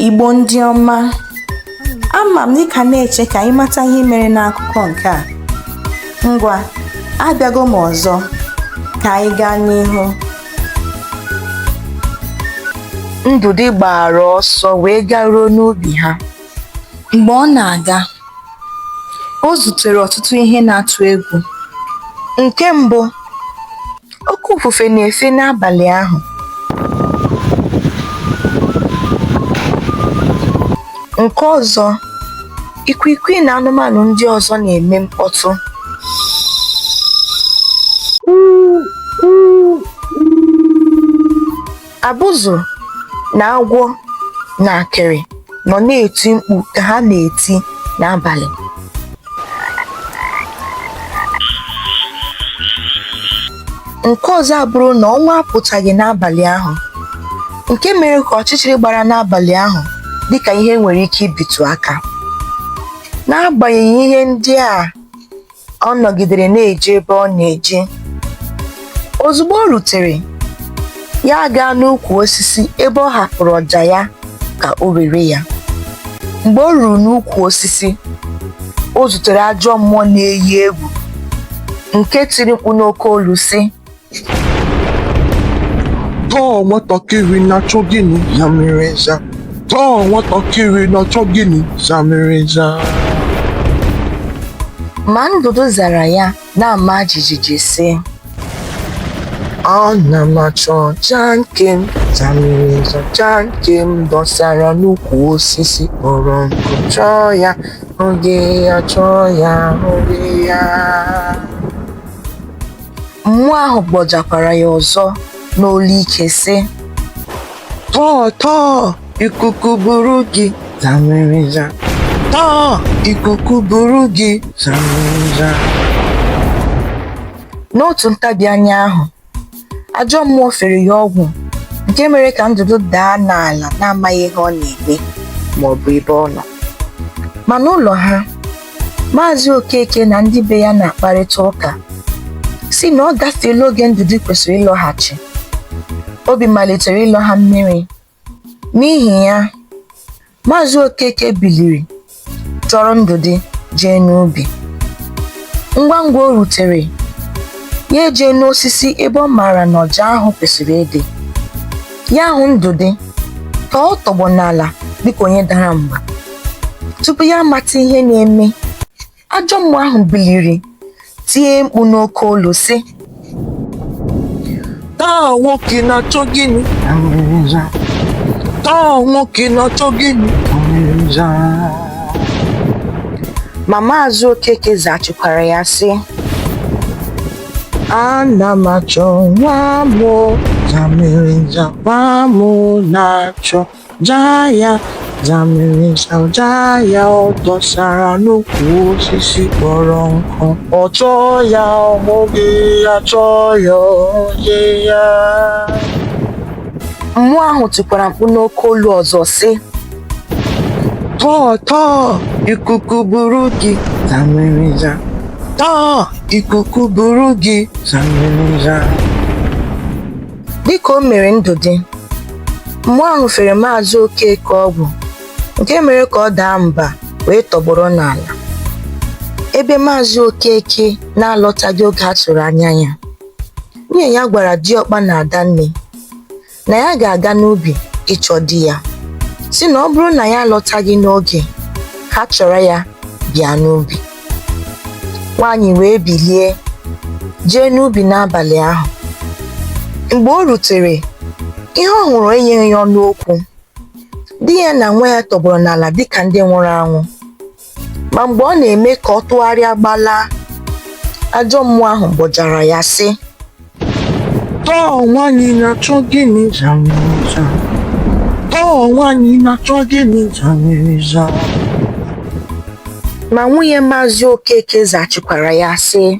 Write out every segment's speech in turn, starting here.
Igbo ndị ọma ama m dịka na-eche ka anyị mata ihe mere n'akụkọ nke a ngwa abịago m ọzọ ka anyị gaa n'ihu Ndụdị gbara ọsọ wee garuo n'ubi ha Mgbe ọ na-aga, o zutere ọtụtụ ihe na-atụ egwu. Nke mbụ, oke ifufe na-efe n'abalị ahụ. Nke ọzọ, ikwiikwii na anụmanụ ndị ọzọ na-eme mkpọtụ. Abụzụ na awọ na akịrị nọ na-eti mkpu ka ha na-eti n'abalị. Nke ọzọ abụrụ na ọnwa apụtaghị n'abalị ahụ, nke mere ka ọchịchịrị gbara n'abalị ahụ dịka ihe e nwere ike ibitụ aka. N'agbanyeghị ihe ndị a ọ nọgidere na-eje ebe ọ na-eje ozugbo o rutere ya agaa n'ukwu osisi ebe ọ hapụrụ ọja ya ka o were ya mgbe o ruru n'ukwu osisi o zutere ajọ mmụọ na-eyi egwu nke tiri mkpu n'oke olu sị tọọ nwatakịrị na-achọ gịnị zamịrịza tọọ nwatakịrị na-achọ gịnị zamịrịza Ma Ndụdị zara ya na-ama jijiji sị ana m achọ ọja nke m zamịrịza ọja nke m dọsara n'ukwu osisi kpọrọ nkụ chọọ ya oge ya chọọ ya oge ya Mmụọ ahụ gbọjakwara ya ọzọ n'olu ike sị, Tọọ tọọ ikuku buru gị zamịrịza. Tọọ ikuku buru gị zamịrịza. N'otu ntabi anya ahụ, ajọ mmụọ fere ya ọgwụ nke mere ka Ndụdị daa n'ala na-amaghị ihe ọ na-eme ma ọ bụ ebe ọ nọ. Ma n'ụlọ ha, Maazị Okeke na ndị be ya na-akparịta ụka sị na ọ gafeela oge Ndụdị kwesịrị ịlọghachi. Obi malitere ịlọ ha mmiri. N'ihi ya, Maazị Okeke biliri chọrọ Ndụdị jee n'ubi. Ngwa ngwa o rutere, ya ejee n'osisi ebe ọ maara na ọja ahụ kwesịrị ịdị. ya ahụ ndụdị ka ọ tọgbọ n'ala dịka onye dara mba tupu ya amata ihe na-eme ajọ mmụọ ahụ biliri tie mkpu n'oke olu sị taa nwoke na-achọ gịnị zamịrịza taa nwoke na-achọ gịnị zamịrịza ma maazị okeke zaghachikwara ya sị ana m achọ nwa mụ zamịrịza nwa mụ na-achọ ọja ya zamịrịza ọja ya ọ dọsara n'ukwu osisi kpọrọ nkụ ọ chọọ ya ọ hụghị ya chọọ ya ọ hụghị ya mmụọ ahụ tikwara mkpu n'oke olu ọzọ sị Tọọ tọọ ikuku buru gị zamịrịza. Tọọ ikuku buru gị zamịrịza. Dịka o mere Ndụdị, mmụọ ahụ fere Maazị Okeke ọgwụ nke mere ka ọ daa mba wee tọgbọrọ n'ala. Ebe Maazị Okeke na-alọtaghị oge a tụrụ anya ya, nwunye ya gwara diọkpa na Adanne na ya ga-aga n'ubi ịchọ di ya sị na ọ bụrụ na ya alọtaghị n'oge ha chọrọ ya bịa n'ubi nwaanyị wee bilie jee n'ubi n'abalị ahụ mgbe o rutere ihe ọ hụrụ enyeghị ya ọnụ okwu di ya na nwa ya tọgbọrọ n'ala dịka ndị nwụrụ anwụ ma mgbe ọ na-eme ka ọ tụgharịa gbalaa ajọ mmụọ ahụ gbọjara ya sị Tọọ nwaanyị na-achọ gịnị zamịrịza? Tọọ nwaanyị na-achọ gịnị zamịrịza? ma nwunye maazị okeke zaghachikwara ya sị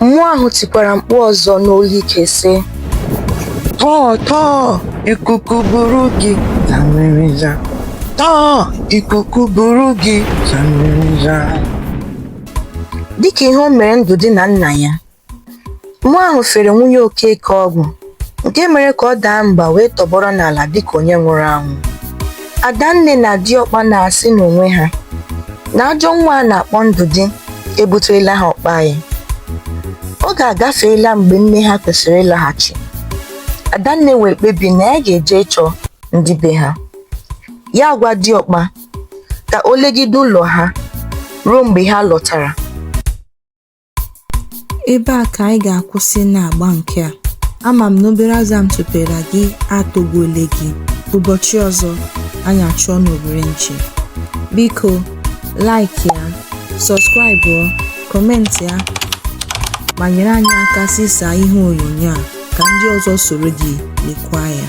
Mmụọ ahụ tikwara mkpu ọzọ n'olu ike sị, Tọọ tọọ ikuku buru gị zamịrịza. Tọọ ikuku buru gị zamịrịza. Dịka ihe o mere Ndụdị na nna ya, mmụọ ahụ fere nwunye Okeke ọgwụ nke mere ka ọ daa mba wee tọgbọrọ n'ala dịka onye nwụrụ anwụ adanne na diọkpa na-asị n'onwe ha na ajọ nwa a na-akpọ ndụdị ebuterela ha ọkpa anyị oge agafeela mgbe nne ha kwesịrị ịlaghachi adanne wee kpebi na ya ga-eje ịchọ ndị be ha ya gwa diọkpa ka o legide ụlọ ha ruo mgbe ha lọtara Ebe a ka anyị ga-akwụsị n'agba nke a. Ama m na obere azụ a m tụpere gị atọgbuole gị. Ụbọchị ọzọ, anyị achụọ n'owere nchi. Biko, like ya, subscribe ọ, comment ya, ma nyere anyị aka zisaa ihe onyonyo a ka ndị ọzọ soro gị lekwa ya.